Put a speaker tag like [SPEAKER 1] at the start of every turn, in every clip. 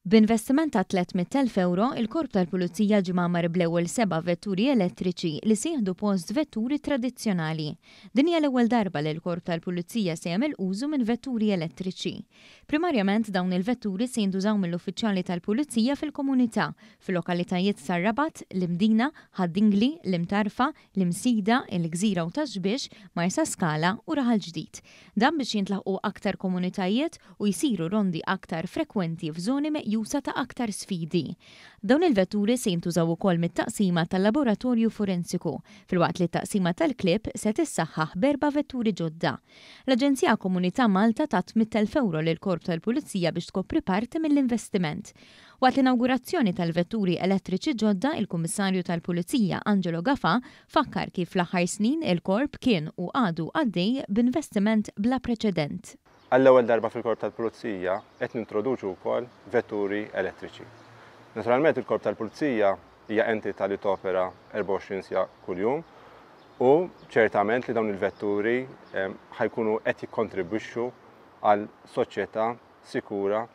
[SPEAKER 1] B'investiment ta' 300,000 ewro, il-Korp tal-Pulizija ġie mgħammar bl-ewwel seba' vetturi elettriċi li se jieħdu post vetturi tradizzjonali. Din hija l-ewwel darba li l-Korp tal-Pulizija se jagħmel użu minn vetturi elettriċi. Primarjament dawn il-vetturi se jintużaw mill-uffiċjali tal-Pulizija fil-komunità, fil-lokalitajiet tar-Rabat, l-Imdina, Ħad-Dingli, l-Imtarfa, l-Imsida, il-Gżira u Tax-Xbiex, Marsaskala u Raħal Ġdid. Dan biex jintlaħqu aktar komunitajiet u jsiru rondi aktar frekwenti f'żoni meqjusa ta' aktar sfidi. Dawn il-vetturi se jintużaw ukoll mit-Taqsima tal-Laboratorju Forensiku, filwaqt li t-Taqsima tal-Klieb se tissaħħaħ b'erba' vetturi ġodda. L-Aġenzija Komunità Malta tat 8,000 ewro lill-Korp tal-Pulizija biex tkopri parti mill-investiment. Waqt l-inawgurazzjoni tal-vetturi elettriċi ġodda, il-Kummissarju tal-Pulizija, Angelo Gafà, fakkar kif fl-aħħar snin il-Korp kien u għadu għaddej b'investiment bla preċedent. Għall-ewwel darba
[SPEAKER 2] fil-Korp tal-Pulizija qed nintroduċu wkoll vetturi elettriċi. Naturalment il-Korp tal-Pulizija hija entità li topera 24 siegħa kuljum. u ċertament li dawn il-vetturi ħa jkunu qed jikkontribwixxu għal soċjetà sikura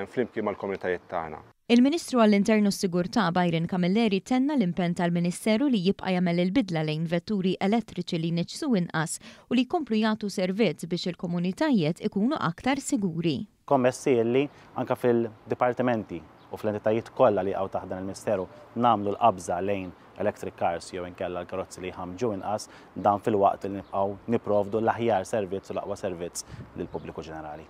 [SPEAKER 2] flimkien mal-komunitajiet tagħna. Il-Ministru għall-Intern
[SPEAKER 1] u s-Sigurtà, Byron Camilleri tenna l-impenn tal-Ministeru li jibqa' jagħmel il-bidla lejn vetturi elettriċi li jniġġsu inqas u li jkomplu jagħtu servizz biex il-komunitajiet ikunu aktar siguri. kommessi illi
[SPEAKER 3] anke fil-dipartimenti u fl-entitajiet kollha li jaqgħu taħt dan il-Misteru nagħmlu l-qabża lejn electric cars jew inkella l-karozzi li jħammġu inqas, dan filwaqt li nibqgħu nipprovdu l-aħjar servizz u l-aqwa servizz lill-pubbliku ġenerali.